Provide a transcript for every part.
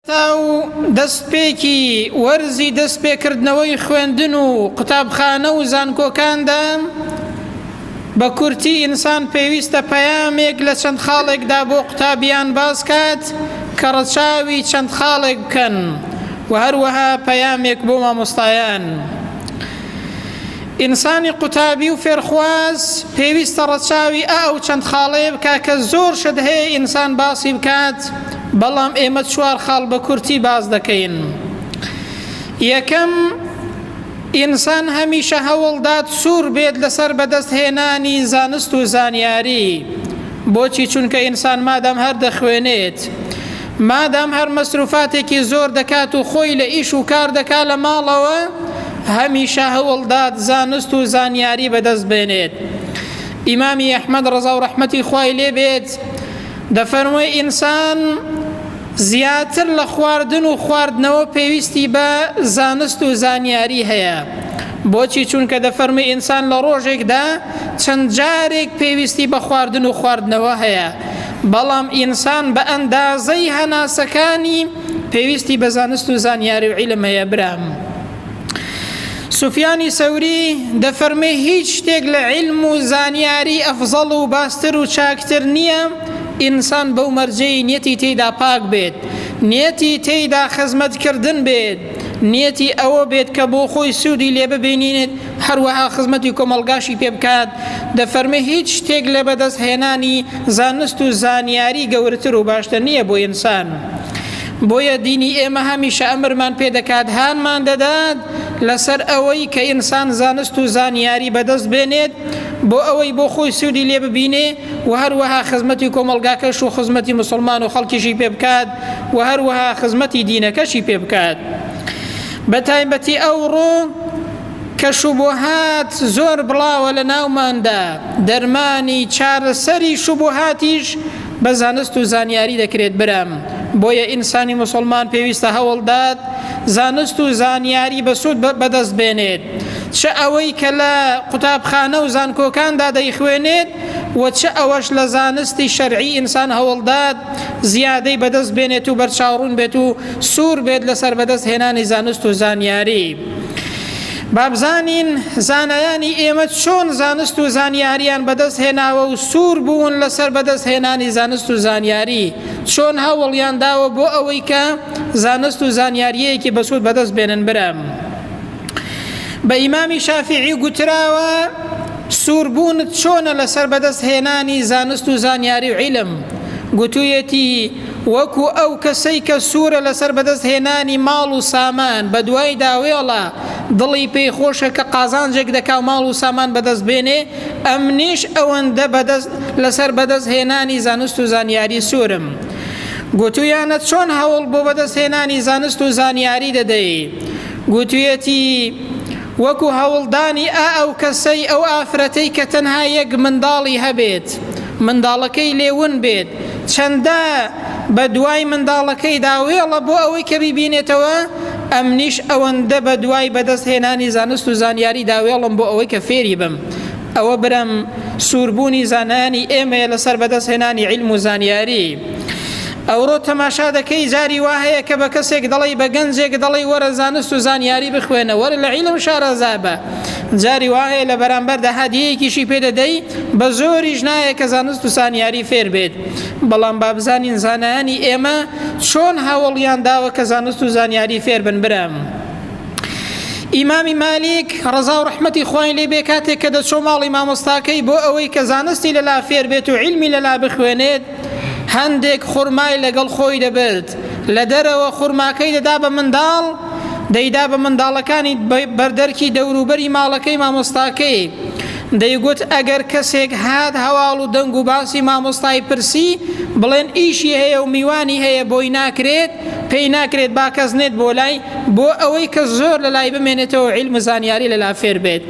ئەو دەستپێکی وەرزی دەستپێکردنەوەی خوێندن و قوتابخانە و زانکۆکاندا بە کورتی ئینسان پێویستە پەیامێک لە چەند خاڵێکدا بۆ قوتابیان باس کات کە ڕەچاوی چەند خاڵێک بکەن و هەروەها پەیامێک بۆ مامۆستایان ئینسانی قوتابی و فێرخواز پێویستە ڕەچاوی ئا ئەو چەند خاڵەیە بکە کە زۆر شت هەیە ئینسان باسی بکات بەڵام ئێمە چوار خاڵ بە کورتی باس دەکەین. یەکەم، ئینسان هەمیشە هەوڵدات سوور بێت لەسەر بەدەستهێنانی زانست و زانیاری. بۆچی؟ چونکە ئینسان مادام هەر دەخوێنێت، مادام هەر مەسروفاتێکی زۆر دەکات و خۆی لە ئیش و کار دەکات لە ماڵەوە، هەمیشە هەوڵدات زانست و زانیاری بەدەست بێنێت. ئیمامی ئەحمەد ڕەزا و ڕەحمەتی خوای لێ بێت، دەفەرموێ ئینسان زیاتر لە خواردن و خواردنەوە پێویستی بە زانست و زانیاری هەیە بۆچی چونکە دەفەرمی ئینسان لە ڕۆژێکدا چەند جارێک پێویستی بە خواردن و خواردنەوە هەیە بەڵام ئینسان بە ئەندازەی هەناسەکانی پێویستی بە زانست و زانیاری و عیلم هەیە برام سوفیانی سەوری دەفەرمێ هیچ شتێک لە علم و زانیاری ئەفزەڵ و باستر و چاکتر نییە ئینسان بەو مەرجەی نیەتی تێیدا پاک بێت نیەتی تێیدا خزمەتکردن بێت نیەتی ئەوە بێت کە بۆ خۆی سوودی لێ ببینێت هەروەها خزمەتی کۆمەڵگاشی پێ بکات دەفەرمێ هیچ شتێک لە بەدەستهێنانی زانست و زانیاری گەورەتر و باشتر نییە بۆ ئینسان. بۆیە دینی ئێمە هەمیشە ئەمرمان پێ دەکات هانمان دەدات لەسەر ئەوەی کە ئینسان زانست و زانیاری بەدەست بێنێت بۆ ئەوەی بۆ خۆی سوودی لێ ببینێ و هەروەها خزمەتی کۆمەڵگاکەش و خزمەتی مسلمان و خەڵکیشی پێ بکات و هەروەها خزمەتی دینەکەشی پێ بکات بە تایبەتی ئەوڕۆ کەش و بۆهات زۆر بڵاوە لە ناوماندا دەرمانی چارەسەری شوبهاتیش بە زانست و زانیاری دەکرێت برام بۆیە ئینسانی مسلمان پێویستە هەوڵدات زانست و زانیاری بەسوود بەدەست بێنێت چ ئەوەی کە لە قوتابخانە و زانکۆکاندا دەیخوێنێت و چ ئەوەش لە زانستی شەرعی ئینسان هەوڵدات زیادەی بەدەست بێنێت و بەرچاوڕون بێت و سوور بێت لەسەر بەدەست هێنانی زانست و زانیاری با بزانین زانایانی ئێمە چۆن زانست و زانیاریان بەدەست هێناوە و سوور بوون لەسەر بەدەست هێنانی زانست و زانیاری چۆن هەوڵیان داوە بۆ ئەوەی کە زانست و زانیاریەیەکی بەسوود بەدەست بێنن برام بە ئیمامی شافعی گوتراوە سووربوونت چۆنە لەسەر بەدەست هێنانی زانست و زانیاری و عیلم گوتوویەتی وەکو ئەو کەسەی کە سوورە لەسەر بەدەست هێنانی ماڵ و سامان بەدوای داوێڵە دڵی پێی خۆشە کە قازانجێک دەکا و ماڵ و سامان بەدەست بێنێ ئەمنیش ئەوەندە بەدەست لەسەر بەدەست هێنانی زانست و زانیاری سوورم گوتویانە چۆن هەوڵ بۆ بەدەست هێنانی زانست و زانیاری دەدەی گوتویەتی وەکو هەوڵدانی ئا ئەو کەسەی ئەو ئافرەتەی کە تەنها یەک منداڵی هەبێت منداڵەکەی لێ ون بێت چەندە بە دوای منداڵەکەیدا وێڵە بۆ ئەوەی کە بیبینێتەوە ئەمنیش ئەوەندە بە دوای بەدەست هێنانی زانست و زانیاریدا وێڵم بۆ ئەوەی کە فێری بم ئەوە برام سووربوونی زانانی ئێمەیە لەسەر بەدەست هێنانی علم و زانیاری ئەوڕۆ تەماشا دەکەی جاری وا هەیە کە بە کەسێک دەڵی بە گەنجێک دەڵی وەرە زانست و زانیاری بخوێنە وەرە لە عیلم شارەزا بە جاری وا هەیە لە بەرامبەر داهادیەکیشی پێدەدەی بە زۆریش نایە کە زانست و زانیاری فێر بێت بەڵام بابزانین زانایانی ئێمە چۆن هاوڵیان داوە کە زانست و زانیاری فێر بن برام. ئیمامی مالیک ڕەزا و ڕەحمەتی خوای لێ بێ کاتێک کە دەچۆ ماڵی مامۆستاکەی بۆ ئەوەی کە زانستی لەلا فێر بێت و علمی لەلا بخوێنێت هەندێک خورمای لەگەڵ خۆی دەبرد لە دەرەوە خورماکەی دەدا بە منداڵ دەیدا بە منداڵەکانی بەردەرکی دەوروبەری ماڵەکەی مامۆستاکەی دەیگوت ئەگەر کەسێک هات هەواڵ و دەنگ و باسی مامۆستای پرسی بڵێن ئیشی هەیە و میوانی هەیە بۆی ناکرێت پێی ناکرێت با کەس نێت بۆ لای بۆ ئەوەی کە زۆر لە لای بمێنێتەوە عیلم و زانیاری لەلا فێر بێت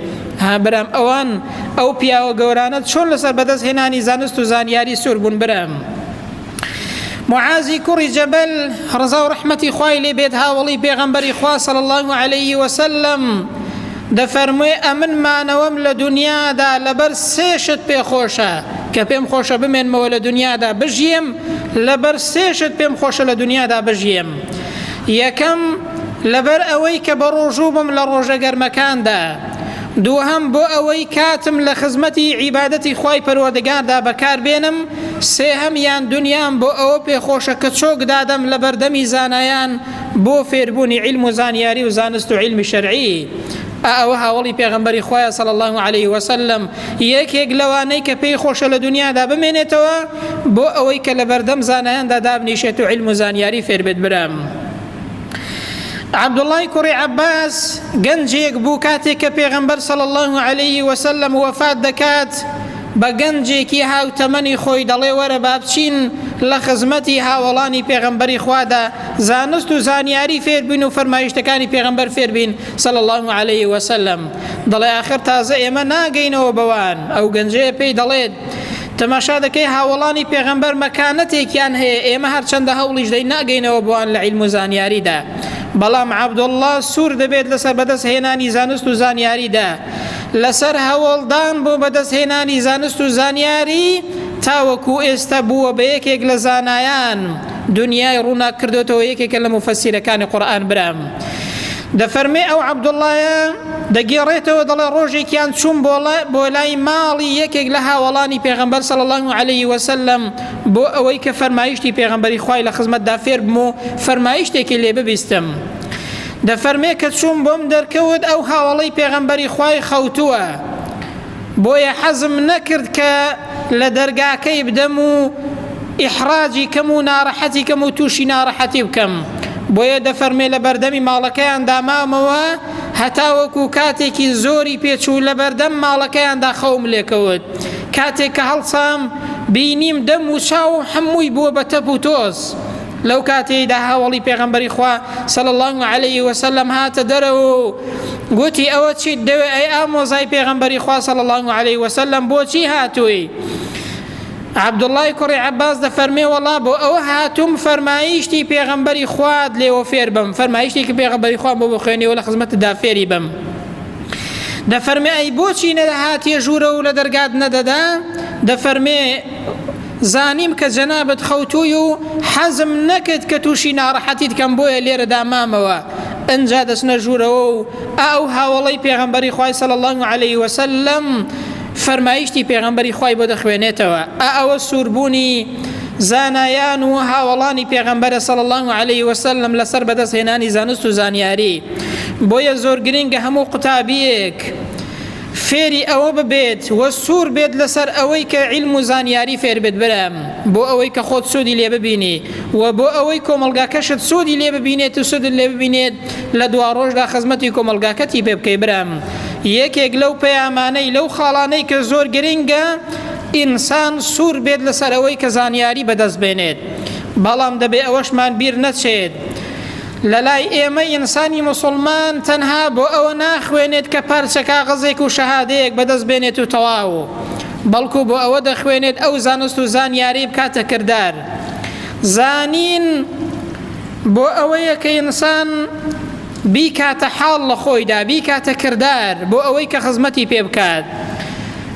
برام ئەوان ئەو پیاوە گەورانە چۆن لەسەر بەدەست هێنانی زانست و زانیاری سوور بوون برام معازی کوڕی جەبەل ڕزا و ڕحمەتی خوای لێ بێت هاوڵی پێغەمبەری خوا صلی الله عليه وسلم دەفەرموێ، ئەمن مانەوەم لە دونیادا لەبەر سێ شت پێ خۆشە، کە پێم خۆشە بمێنمەوە لە دونیادا بژیێم، لەبەر سێ شت پێم خۆشە لە دونیادا بژیێم، یەکەم، لەبەر ئەوەی کە بەڕۆژوو بم لە ڕۆژە گەرمەکاندا، دووهەم، بۆ ئەوەی کاتم لە خزمەتی عیبادەتی خوای پەروەردگاردا بەکار بێنم، سێهەمیان، دونیام بۆ ئەوە پێ خۆشە کە چۆک دادەم لە بەردەمی زانایان، بۆ فێربوونی عیلم و زانیاری و زانست و عیلمی شەرعی ئا ئەوە هاوڵی پێغمبەری خوایە صلی الله عليه وسلم یەکێک لەوانەی کە پێی خۆشە لە دنیادا بمێنێتەوە بۆ ئەوەی کە لە بەردەم زانایاندا دابنیشێت و عیلم و زانیاری فێربێت برام عبدالله کوڕی عباس گەنجێک بوو کاتێک کە پێغمبەر صلی الله عليه وسلم وفات دەکات بە گەنجێکی هاوتەمەنی خۆی دەڵێ وەرە با بچین لە خزمەتی هاوەڵانی پێغەمبەری خوادا زانست و زانیاری فێر بین و فەرمایشتەکانی پێغەمبەر فێر بین صلی اللە علیه وسلم دەڵێ ئاخر تازە ئێمە ناگەینەوە بەوان ئەو گەنجەیە پێی دەڵێت تەماشا دەکەی هاوەڵانی پێغەمبەر مەکانەتێکیان هەیە ئێمە هەرچەندە هەوڵیش دەین ناگەینەوە بۆوان لە عیلم و زانیاریدا بەڵام عەبدوڵڵا سوور دەبێت لەسەر بەدەست هێنانی زانست و زانیاریدا لەسەر هەوڵدان بۆ بەدەستهێنانی زانست و زانیاری تاوەکو ئێستا بووە بە یەکێک لە زانایان دنیای ڕووناک کردۆتەوە یەکێکە لە مفەسیرەکانی قورئان برام دەفەرمێ ئەو عەبدوڵڵایە دەگێڕێتەوە دەڵێ ڕۆژێکیان چوون بۆ لای ماڵی یەکێک لە هاوڵانی پێغمبەر سەڵ الله عليه وسلم بۆ ئەوەی کە فەرمایشتی پێغمبەری خی لە خزمەتدا فێر بم و فەرمایشتێکی لێ ببیستم. دەفەرمێ کە چووم بۆم دەرکەوت ئەو هاوەڵەی پێغەمبەری خوای خەوتووە بۆیە حەزم نەکرد کە لە دەرگاکەی بدەم و ئیحراجی کەم و ناڕەحەتی کەم و تووشی ناڕەحەتی بکەم بۆیە دەفەرمێ لە بەردەمی ماڵەکەیان دامامەوە هەتاوەکو کاتێکی زۆری پێچوو لە بەردەم ماڵەکەیاندا خەوم لێکەوت کاتێک کە هەڵسام بینیم دەم و چاوم هەمووی بووە بە تەپ و تۆز لەو کاتەیدا هاوڵی پێغەمبەری خوا صلی الله علیه وسلم هاتە دەرەوە و گوتی ئەوە چیت دەوێ ئەی ئامۆزای پێغەمبەری خوا صلی الله علیه وسلم بۆچی هاتووی عبدوڵای کوڕی عباس دەفەرمێ وەڵا بۆ ئەوە هاتووم فەرمایشتی پێغەمبەری خوات لێوە فێر بم فەرمایشتێکی پێغەمبەری خوان بۆ بخوێنەوە لە خزمەتدا فێری بم دەفەرمێ ئەی بۆچی نەدەهاتێ ژوورە و لە دەرگات نەدەدا دەفەرمێ زانیم کە جەنابت خەوتووی و حەزم نەکرد کە تووشی ناڕەحەتیت کەم بۆیە لێرەدا مامەوە ئنجا دەچنە ژوورەوە و ئاو هاوەڵەی پێغەمبەری خوای صلی الله علیه وسلم فەرمایشتی پێغەمبەری خوای بۆ دەخوێنێتەوە ئا ئەوە سووربوونی زانایان و هاوەڵانی پێغەمبەرە صلی الله علیه وسلم لەسەر بەدەستهێنانی زانست و زانیاری بۆیە زۆر گرنگە هەموو قوتابیەک فێری ئەوە ببێت و سوور بێت لەسەر ئەوەی کە عیلم و زانیاری فێر بێت برام بۆ ئەوەی کە خۆت سوودی لێ ببینی و بۆ ئەوەی کۆمەڵگاکەشت سوودی لێ ببینێت و سوودت لێ ببینێت لە دوا ڕۆژدا خزمەتی کۆمەڵگاکەتی پێ بکەی برام یەکێک لەو پەیامانەی لەو خاڵانەی کە زۆر گرنگە ئینسان سوور بێت لەسەر ئەوەی کە زانیاری بەدەست بێنێت بەڵام دەبێ ئەوەشمان بیر نەچێت لەلای ئێمە ئینسانی موسڵمان تەنها بۆ ئەوە ناخوێنێت کە پارچە کاغەزێک و شەهادەیەک بەدەست بێنێت و تەواو بەڵکو بۆ ئەوە دەخوێنێت ئەو زانست و زانیاری بکاتە کردار زانین بۆ ئەوەیە کە ئینسان بیکاتە حاڵ لە خۆیدا بیکاتە کردار بۆ ئەوەی کە خزمەتی پێ بکات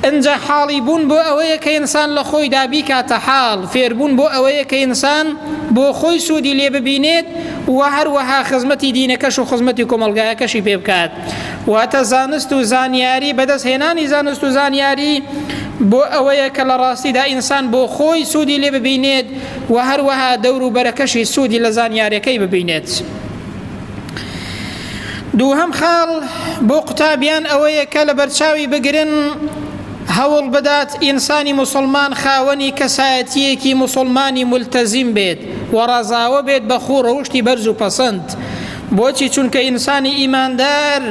ئنجا حاڵی بوون بۆ ئەوەیە کە ئینسان لە خۆیدا بیکاتە حاڵ، فێربوون بۆ ئەوەیە کە ئینسان بۆ خۆی سوودی لێ ببینێت و هەروەها خزمەتی دینەکەش و خزمەتی کۆمەڵگایەکەشی پێ بکات. واتە زانست و زانیاری، بەدەست هێنانی زانست و زانیاری بۆ ئەوەیە کە لە ڕاستیدا ئینسان بۆ خۆی سوودی لێ ببینێت و هەروەها دەوروبەرەکەشی سوودی لە زانیارەکەی ببینێت. دووهەم خاڵ بۆ قوتابیان ئەوەیە کە لە بەرچاوی بگرن هەوڵ بدات ئینسانی موسڵمان خاوەنی کەسایەتیەکی موسڵمانی ملتەزیم بێت و ڕەزاوە بێت بە خوو ڕەوشتی بەرز و پەسەند بۆچی چونکە ئینسانی ئیماندار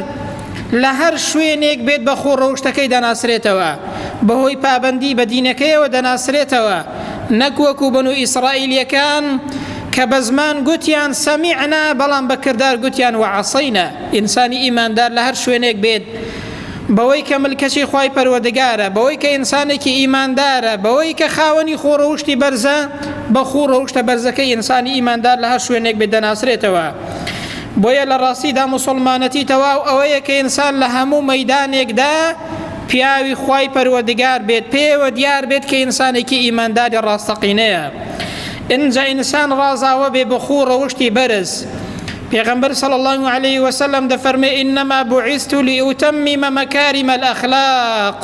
لە هەر شوێنێک بێت بە خۆ ڕەوشتەکەی دەناسرێتەوە بەهۆی پابندی بە دینەکەیەوە دەناسرێتەوە نەکوەکو بن و ئیسرائیلیەکان کە بە زمان گوتیان سەمیعنا بەڵام بە کردار گوتیان وعەصینا، ئینسانی ئیماندار لە هەر شوێنێک بێت بەوەی کە ملکەچی خوای پەروەردگارە، بەوەی کە ئینسانێکی ئیماندارە، بەوەی کە خاوەنی خوو ڕەوشتی بەرزە، بە خوو ڕەوشتە بەرزەکەی ئینسانی ئیماندار لە هەر شوێنێک بێت دەناسرێتەوە. بۆیە لە ڕاستیدا موسڵمانەتی تەواو ئەوەیە کە ئینسان لە هەموو مەیدانێکدا پیاوی خوای پەروەردگار بێت، پێیەوە دیار بێت کە ئینسانێکی ئیمانداری ڕاستەقینەیە. ئینجا ئینسان ڕازاوە بێ بە خوو ڕەوشتی بەرز. پێغەمبەر صلی اللە علیە وسلم دەفەرمێ انما بعثت لاتمم مکارم الاخلاق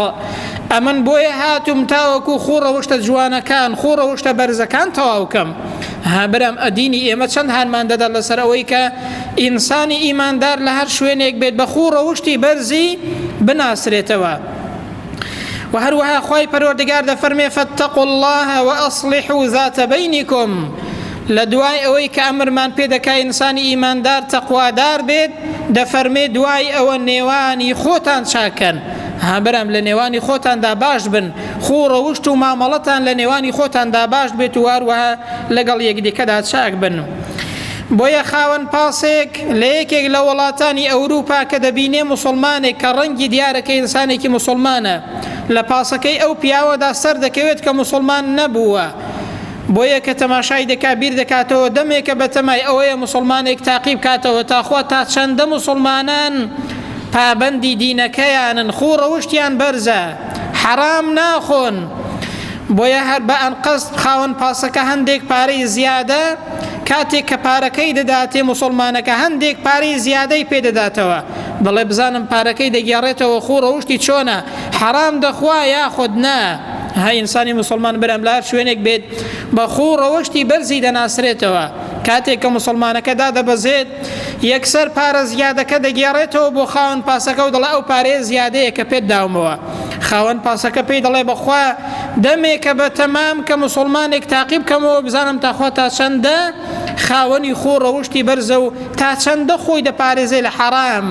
ئەمن بۆیە هاتوم تاوەکو خوو ڕەوشتە جوانەکان خوو ڕەوشتە بەرزەکان تەواوکەم ها برام ئەدینی ئێمە چەند هانمان دەدات لەسەر ئەوەی کە ئینسانی ئیماندار لە هەر شوێنێک بێت بە خوو ڕەوشتی بەرزی بناسرێتەوە و هەروەها خوای پەروەردگار دەفەرمێ فاتقوا الله واصلحوا ذات بینکم لە دوای ئەوەی کە ئەمرمان پێ دەکا ئینسانی ئیماندار تەقوادار بێت دەفەرمێ دوای ئەوە نێوانی خۆتان چاکەن هابرام لە نێوانی خۆتاندا باش بن خۆ ڕەوشت و مامەڵەتان لە نێوانی خۆتاندا باش بێت و هەروەها لەگەڵ یەکدیکەدا چاک بن. بۆیە خاوەن پاسێک لە یەکێک لە وڵاتانی ئەوروپا کە دەبینێ موسڵمانێک کە ڕەنگی دیارە کە ئینسانێکی موسڵمانە لە پاسەکەی ئەو پیاوەدا سەر دەکەوێت کە موسڵمان نەبووە بۆیە کە تەماشای دەکا بیر دەکاتەوە دەمێکە بە تەمای ئەوەیە موسڵمانێک تاقیب کاتەوە تاخوا تا چەندە موسڵمانان پابەندی دینەکەیانن خوو ڕەوشتیان بەرزە حەرام ناخۆن بۆیە هەر بە ئەنقەست خاوەن پاسەکە هەندێک پارەی زیادە کاتێک کە پارەکەی دەداتێ موسڵمانەکە هەندێک پارەی زیادەی پێ دەداتەوە دەڵێ بزانم پارەکەی دەگێڕێتەوە خۆ ڕەوشتی چۆنە حەرام دەخوا یاخود نا ها ئینسانی مسلمان برام لار شوێنێک بێت بە خۆ ڕەوشتی بەرزی دەناسرێتەوە کاتێک کە مسلمانەکە دادەبەزێت یەکسەر پارە زیادەکە دەگێڕێتەوە بۆ خاون پاسەکە و دەڵێ ئەو پارەیە زیادەیە کە پێت داومەوە خاوەن پاسەکە پێی دەڵێ بەخوا دەمێکە بەتەمام کە موسڵمانێک تاقی بکەمەوە بزانم تاخوا تا چەندە خاوەنی خۆ ڕەوشتی بەرزە و تا چەندە خۆی دەپارێزێ لە حەڕام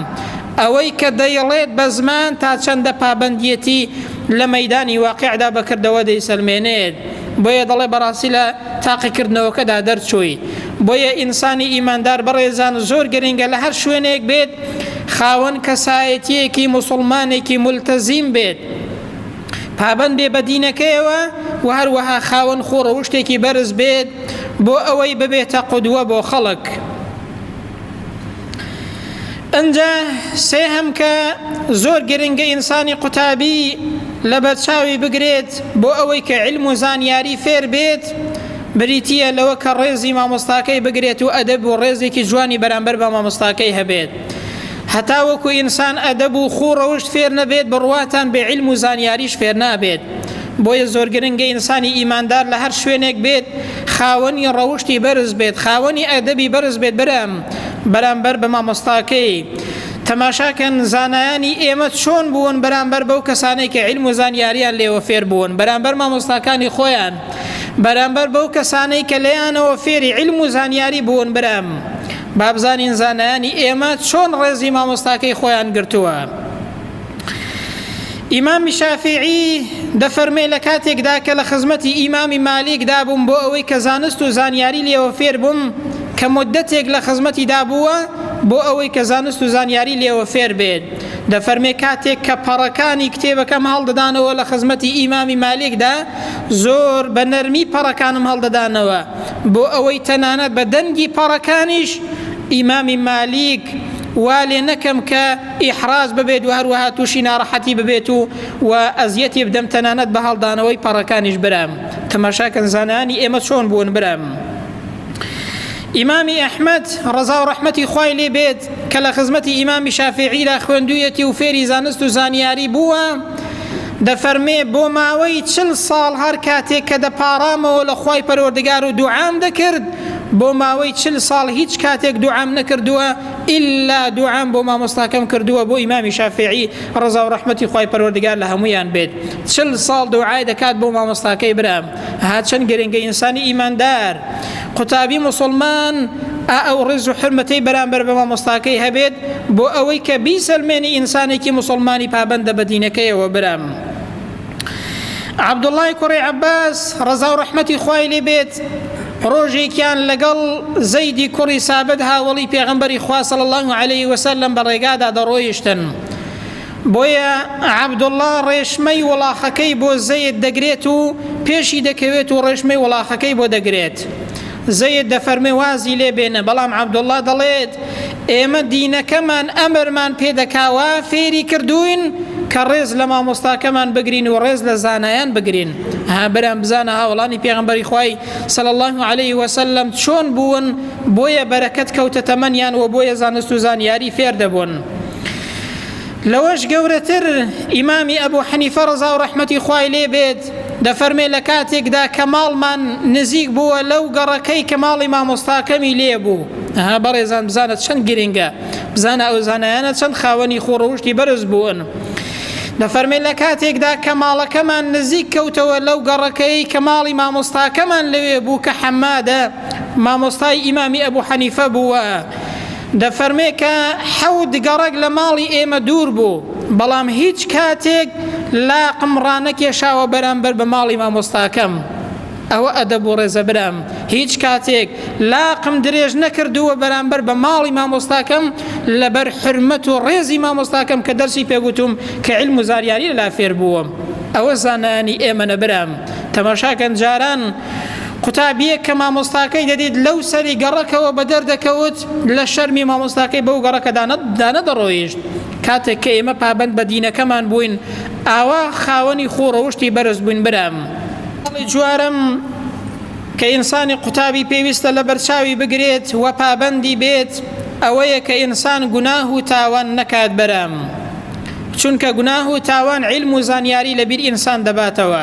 ئەوەی کە دەیڵێت بە زمان تا چەندە پابەندیەتی لە مەیدانی واقعدا بەکردەوە دەیسەلمێنێت بۆیە دەڵێ بەڕاستی لە تاقیکردنەوەکەدا دەرچووی بۆیە ئینسانی ئیماندار بەڕێزان زۆر گرنگە لە هەر شوێنێک بێت خاوەن کەسایەتیەکی مسلمانێکی ملتەزیم بێت پابەند بێ بە دینەکەیەوە و هەروەها خاوەن خۆ ڕەوشتێکی بەرز بێت بۆ ئەوەی ببێتە قودوە بۆ خەڵک ئەجا سێهەم کە زۆر گرنگە ئینسانی قوتابی لە بەرچاوی بگرێت بۆ ئەوەی کە علم و زانیاری فێر بێت بریتە لەوە کە ڕێزی مامۆستاکەی بگرێت و ئەدەب و ڕێزێکی جوانی بەرامبەر بە مامۆستاکەی هەبێت هەتاوەکو ئینسان ئەدەب و خوو ڕەوشت فێر نەبێت بڕواتان بە عیلم و زانیاریش فێر نابێت بۆیە زۆر گرنگە ئینسانی ئیماندار لە هەر شوێنێک بێت خاوەنی ڕەوشتی بەرز بێت خاوەنی ئەدەبی بەرز بێت برام بەرامبەر بە مامۆستاکەی تەماشاکەن زانایانی ئێمە چۆن بوون بەرامبەر بەو کەسانەی کە علم و زانیاریان لێوە فێر بوون بەرامبەر مامۆستاکانی خۆیان بەرامبەر بەو کەسانەی کە لەیانەوە فێری علم و زانیاری بوون برام با بزانین زانایانی ئێمە چۆن ڕێزی مامۆستاکەی خۆیان گرتووە ئیمامی شافعی دەفەرمێ لە کاتێکدا کە لە خزمەتی ئیمامی مالیکدا بووم بۆ ئەوەی کە زانست و زانیاری لێوە فێر بووم کە مدەتێک لە خزمەتی دابووە بۆ ئەوەی کە زانست و زانیاری لێوە فێر بێت دەفەرمێ کاتێک کە پەڕەکانی کتێبەکەم هەڵدەدانەوە لە خزمەتی ئیمامی مالیکدا زۆر بە نەرمی پەڕەکانم هەڵدەدانەوە بۆ ئەوەی تەنانەت بە دەنگی پەڕەکانیش ئیمامی مالیک وا لێ نەکەم کە ئیحراج ببێت و هەروەها تووشی ناڕەحەتی ببێت و و ئەزیەتی بدەم تەنانەت بە هەڵدانەوەی پەڕەکانیش برام تەماشاکەن زانانی ئێمە چۆن بوون برام ئیمامی ئەحمد ڕزا و ڕەحمەتی خوای لێ بێت کە لە خزمەتی ئیمامی شافعیدا خوێندویەتی و فێری زانست و زانیاری بووە دەفەرمێ بۆ ماوەی چل ساڵ هەر کاتێک کە دەپاڕامەوە لە خوای پەروەردگار و دوعام دەکرد بۆ ماوەی چل ساڵ هیچ کاتێک دوعام نەکردووە ئللا دوعام بۆ مامۆستاکەم کردووە بۆ ئیمامی شافعی ڕزا و ڕەحمەتی خوای پەروەردگار لە هەمویان بێت چل ساڵ دوعای دەکات بۆ مامۆستاکەی برام هەرچەند گرنگە ئینسانی ئیماندار قوتابی مسلمان ئا ئەو ڕێز و حرمەتەی بەرامبەر بە مامۆستاکەی هەبێت بۆ ئەوەی کە بیسەلمێنی ئینسانێکی مسلمانی پابندە بە دینەکەیەوە برام. عبدوڵای کوڕی عباس ڕەزا و ڕەحمەتی خوای لێ بێت ڕۆژێکیان لەگەڵ زەیدی کوڕی سابت هاوڵی پێغمبەری خواصل الله عليه وسلم بە ڕێگادا دەڕۆیشتن بۆیە عەبدوڵڵا ڕێشمەی وڵاخەکەی بۆ زەید دەگرێت و پێشی دەکەوێت و ڕێشمەی وڵاخەکەی بۆ دەگرێت. زەید دەفەرموێ وازی لێ بێنە، بەڵام عەبدوڵڵا دەڵێت ئێمە دینەکەمان ئەمرمان پێ دەکا وا فێری کردووین کە ڕێز لە مامۆستاکەمان بگرین و ڕێز لە زانایان بگرین. ها برام بزانە هاوەڵانی پێغەمبەری خوای صلی اللە علیه و سلم چۆن بوون، بۆیە بەرەکەت کەوتە تەمەنیان و بۆیە زانست و زانیاری فێر دەبوون. لەوەش گەورەتر ئیمامی ئەبوو حەنیفە ڕەزا و ڕەحمەتی خوای لێ بێت دەفەرمێ لە کاتێکدا کە ماڵمان نزیک بووە لەو گەڕەکەی کە ماڵی مامۆستاکەمی لێ بوو ها بەڕێزان بزانە چەند گرنگە بزانە ئەو زانایانە چەند خاوەنی خۆڕەوشتی بەرز بوون. دەفەرمێ لە کاتێکدا کە ماڵەکەمان نزیک کەوتەوە لەو گەڕەکەی کە ماڵی مامۆستاکەمان لەوێ بوو کە حەمادە مامۆستای ئیمامی ئەبوو حەنیفە بووە دەفەرمێ کە حەوت گەڕەک لە ماڵی ئێمە دوور بوو، بەڵام هیچ کاتێک لاقم ڕانەکێشاوە بەرامبەر بە ماڵی مامۆستاکەم. ئەوە ئەدەب و ڕێزە برام، هیچ کاتێک لاقم درێژ نەکردووە بەرامبەر بە ماڵی مامۆستاکەم لەبەر حورمەت و ڕێزی مامۆستاکەم کە دەرسی پێ گوتووم کە عیلم و زاریاری لەلا فێر بووم. ئەوە زانایانی ئێمەنە برام. تەماشاکەن جاران قوتابییەک کە مامۆستاکەی دەدیت لەو سەری گەڕەکەوە بەدەر دەکەوت لە شەرمی مامۆستاکەی بەو گەڕەکە دانەدەڕۆیشت کاتێک کە ئێمە پابند بە دینەکەمان بووین ئاوا خاوەنی خۆڕەوشتی بەرز بووین برام هەڵی جوارم کە ئینسانی قوتابی پێویستە لە بەرچاوی بگرێت و پابندی بێت ئەوەیە کە ئینسان گوناه و تاوان نەکات بەرام چونکە گوناه و تاوان علم و زانیاری لەبیر ئینسان دەباتەوە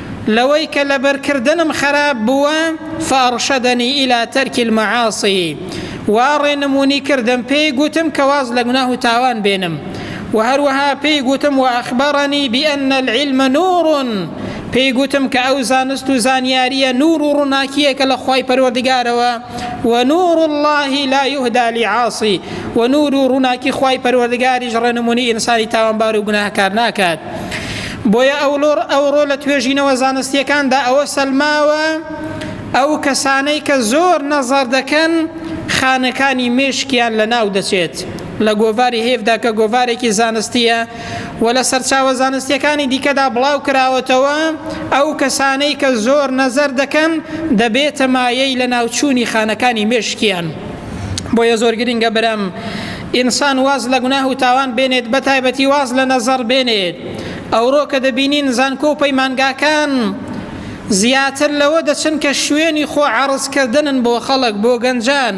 لەوەی کە لەبەر کردنم خەراپ بووە، فارشدنی الی ترک المعاصی، وا ڕێنمونی کردم پێی گوتم کە واز لە گوناه و تاوان بێنم، وە هەروەها پێی گوتم واخبرنی بان العلم نور، پێی گوتم کە ئەو زانست و زانیاریە نور و ڕوناکیەکە لە خوای پەروەردگارەوە، ونور الله لا یهدی لعاصی، وە نور و ڕوناکی خوای پەروەردگاریش ڕێنمونی ئینسانی تاوانبار و گوناهکار ناکات. بۆیە ئەولۆڕ ئەوڕۆ لە توێژینەوە زانستییەکاندا ئەوە سەلماوە ئەو کەسانەی کە زۆر نەزەر دەکەن خانەکانی مێشکیان لە ناو دەچێت لە گۆڤاری هێفدا کە گۆڤارێکی زانستیە و لە سەرچاوە زانستیەکانی دیکەدا بڵاو کراوەتەوە ئەو کەسانەی کە زۆر نەزەر دەکەن دەبێتە مایەی لە ناوچوونی خانەکانی مێشکیان. بۆیە زۆر گرنگە برام ئینسان واز لە گوناه و تاوان بێنێت بە تایبەتی واز لە نەزەڕ بێنێت ئەوڕۆ کە دەبینین زانکۆ و پەیمانگاکان زیاتر لەوە دەچن کە شوێنی خۆ عرضکردنن بۆ خەڵک بۆ گەنجان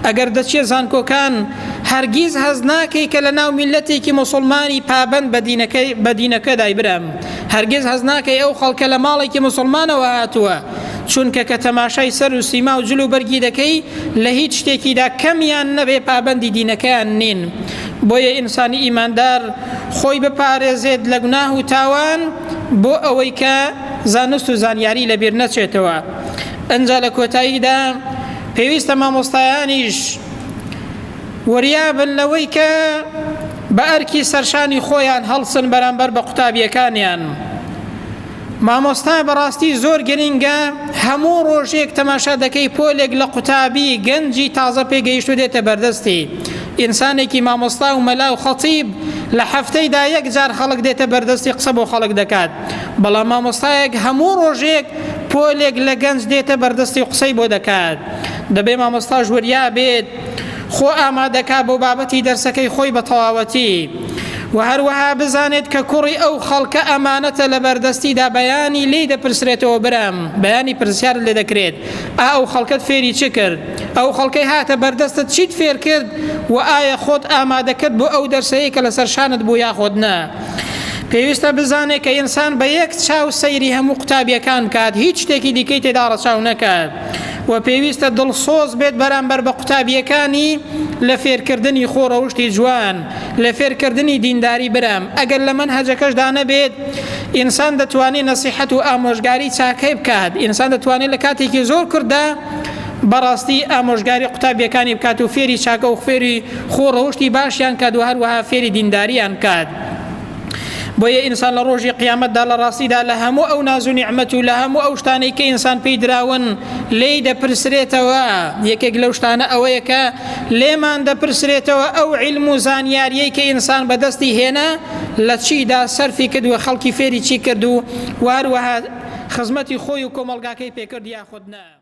ئەگەر دەچێ زانکۆکان هەرگیز هەز ناکەی کە لە ناو میلەتێکی مسلمانی پابند بەدینەکەی بەدینەکەدای برام هەرگیز هەز ناکەی ئەو خەڵکە لە ماڵێکی مسلمانەوە هاتووە چونکە کە تەماشای سەر و سیما و جل و بەرگی دەکەی لە هیچ شتێکیدا کەمیان نەبێ پابەندی دینەکەیان نین بۆیە ئینسانی ئیماندار خۆی بپارێزێت لە گوناه و تاوان بۆ ئەوەی کە زانست و زانیاری لەبیر نەچێتەوە ئەجا لە کۆتاییدا پێویستە مامۆستایانیش وریابن لەوەی کە بە ئەرکی سەرشانی خۆیان هەڵسن بەرامبەر بە قوتابیەکانیان. مامۆستا بەڕاستی زۆر گرنگە هەموو ڕۆژێک تەماشا دەکەی پۆلێک لە قوتابی گەنجی تازە پێگەیشتو دێتە بەردەستی ئینسانێکی مامۆستا و مەلا و خەتیب لە هەفتەیدا یەک جار خەڵک دێتە بەردەستی قسە بۆ خەڵک دەکات بەڵام مامۆستایەک هەموو ڕۆژێک پۆلێک لە گەنج دێتە بەردەستی قسەی بۆ دەکات دەبێ مامۆستاش وریا بێت خۆ ئامادەکا بۆ بابەتی دەرسەکەی خۆی بە تەواوەتی و هەروەها بزانێت کە کوڕی ئەو خەڵکە ئەمانەتە لە بەردەستیدا بەیانی لی دەپرسرێتەوە برام بەیانی پرسیارت لێ دەکرێت ئا ئەو خەڵکەت فێری چ کرد ئەو خەڵکەی هاتە بەردەستت چیت فێر کرد و ئایا خۆت ئامادە کرد بۆ ئەو دەرسەیە کە لەسەر شانت بوو یاخۆت نا پێویستە بزانێت کە ئینسان بە یەک چاو سەیری هەموو قوتابیەکان بکات هیچ شتێکی دیکەی تێدا ڕەچاو نەکات و پێویستە دڵسۆز بێت بەرامبەر بە قوتابیەکانی لە فێرکردنی خۆ ڕەوشتی جوان لە فێرکردنی دینداری برام ئەگەر لە من هەجەکەشدا نەبێت ئینسان دەتوانێت نەسیحەت و ئامۆژگاری چاکەی بکات ئینسان دەتوانێت لە کاتێکی زۆر کرددا بەڕاستی ئامۆژگاری قوتابیەکانی بکات و فێری چاکە و خوێری خۆ ڕەوشتی باشیان کات و هەروەها فێری دینداریان کات. بۆیە ئینسان لە ڕۆژی قیامەتدا لە ڕاستیدا لە هەموو ئەو ناز و نیعممەت و لە هەموو ئەو شتانەی کە ئینسان پێی دراون لی دەپرسرێتەوە یەکێک لەو شتانە ئەوەیە کە لێمان دەپرسرێتەوە ئەو علم و زانیاریەی کە ئینسان بەدەستی هێنا لە چیدا سەرفی کردووە خەڵکی فێری چی کرد و وهروەها خزمەتی خۆی و کۆمەلگاکەی پێکرد یاخود نا.